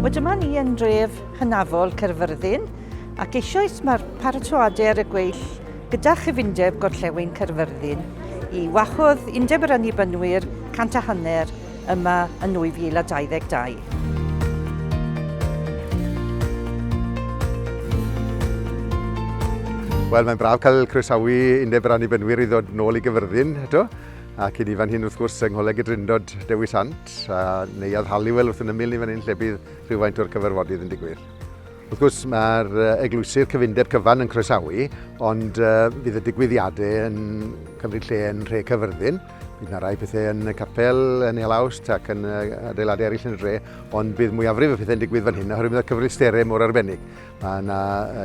Wel dyma ni yn dref hynafol Cerfyrddin ac eisoes mae'r paratoadau ar y gweill gyda chyfundeb gorllewin Cerfyrddin i wahodd Undeb yr Annibynwyr cant a hanner yma yn 2022. Wel, mae'n braf cael croesawu Undeb yr Annibynwyr i ddod nôl i Gyfyrddin eto ac i ni fan hyn wrth gwrs yng Ngholeg y Drindod Dewi Sant, a neuadd Halliwell wrth yn ymyl ni fan hyn lle bydd rhywfaint o'r cyfarfodydd yn digwydd. Wrth gwrs mae'r eglwysydd cyfundeb cyfan yn croesawu, ond uh, bydd y digwyddiadau yn cymryd lle yn rhe Cyfyrddin. Bydd yna rai pethau yn y capel, yn ei halawst ac yn adeiladau eraill yn y dre, ond bydd mwyafrif y pethau'n digwydd fan hyn oherwydd y cyfristerau mor arbennig. Mae yna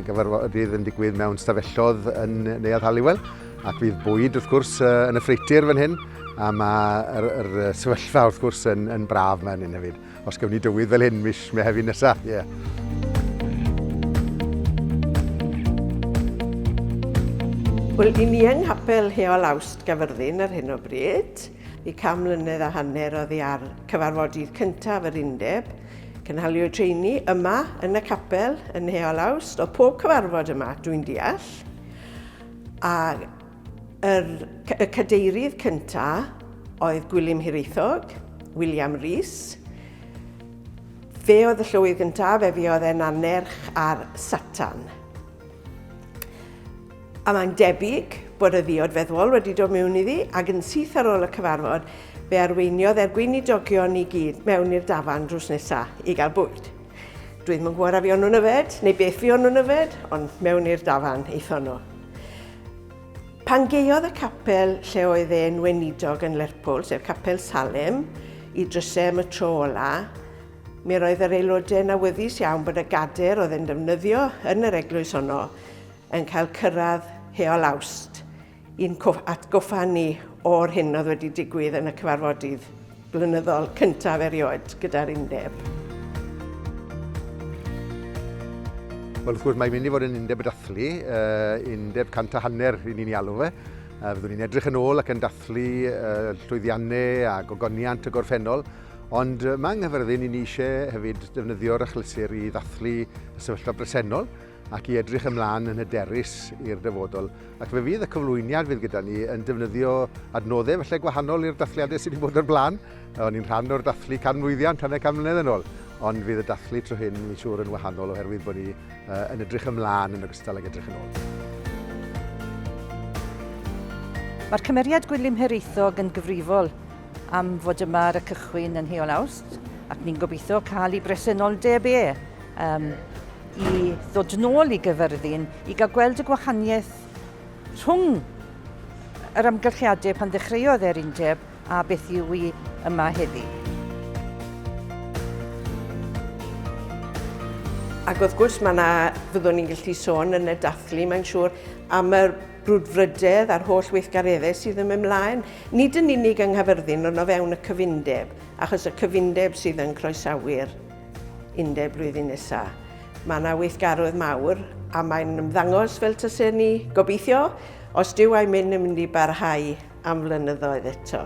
gyfarfodydd yn digwydd mewn stafellodd yn Neuadd Halliwell ac bydd bwyd wrth gwrs yn y ffreitir fan hyn a mae'r sefyllfa wrth gwrs yn, yn braf fan hyn hefyd. Os gewn ni dywydd fel hyn mis Mehefin nesa, ie. Yeah. Wel, i ni yng Nghapel Heol Awst Gafyrddin ar hyn o bryd, i cam mlynedd a hanner oedd hi ar cyfarfodydd cyntaf yr undeb, cynhaliwyd treini yma yn y capel yn Heol Awst, o pob cyfarfod yma, dwi'n deall, a Yr, y cadeirydd cynta oedd Gwilym Hiraethog, William Rees. Fe oedd y llywydd gyntaf, fe fi oedd e'n annerch ar Satan. A mae'n debyg bod y ddiod feddwl wedi dod mewn iddi ac yn syth ar ôl y cyfarfod fe arweiniodd er gweinidogion i gyd mewn i'r dafan drws nesa i gael bwyd. Dwi ddim yn gwybod a fi o'n nhw'n yfed neu beth fi o'n nhw'n yfed, ond mewn i'r dafan eithon nhw. Pan gaeodd y capel lle oedd e'n weinidog yn Lerpwl, sef Capel Salem, i drysau am y tro ola, mi roedd yr aelodau'n awyddus iawn bod y gader oedd yn defnyddio yn yr eglwys honno yn cael cyrraedd heol Awst i'n atgoffa ni o'r hyn oedd wedi digwydd yn y cyfarfodydd. blynyddol cyntaf erioed gyda'r undeb. Wel, wrth gwrs, mae'n mynd i fod yn undeb y dathlu, uh, undeb cant a hanner i ni'n ei alw fe. Uh, fyddwn ni'n edrych yn ôl ac yn dathlu uh, llwyddiannau a gogoniant y gorffennol, ond uh, mae anghyfyrddin i ni eisiau hefyd defnyddio'r achlysur i ddathlu y sefyllfa bresennol, ac i edrych ymlaen yn hyderus i'r dyfodol. Ac fe fydd y cyflwyniad fydd gyda ni yn defnyddio adnoddau felly gwahanol i'r dathliadau sydd wedi bod o'r blaen. O'n i'n rhan o'r dathlu canmlwyddiant hanner can mlynedd yn ôl, ond fydd y dathlu tro hyn, mi'n siŵr, yn wahanol oherwydd bod ni uh, yn edrych ymlaen yn ogystal ag edrych yn ôl. Mae'r cymeriad Gwilym Hiraethog yn gyfrifol am fod yma ar y cychwyn yn heol awst, ac ni'n gobeithio cael ei bresenoldeb e um, i ddod nôl i Gaerfyrddin i gael gweld y gwahaniaeth rhwng yr amgylchiadau pan ddechreuodd e'r undeb a beth yw i yma heddi. Ac wrth gwrs mae yna, fyddwn ni'n gallu sôn yn y dathlu, mae'n siŵr, am yr brwdfrydedd a'r holl weithgareddau sydd yn mynd mlaen, nid yn unig yng Nghaerfyrddin ond o fewn y cyfundeb, achos y cyfundeb sydd yn croesawu'r Ynde, blwyddyn nesa. Mae yna weithgarwedd mawr a mae'n ymddangos fel tase ni, gobeithio, os dyw a'i mynd yn mynd i barhau am flynyddoedd eto.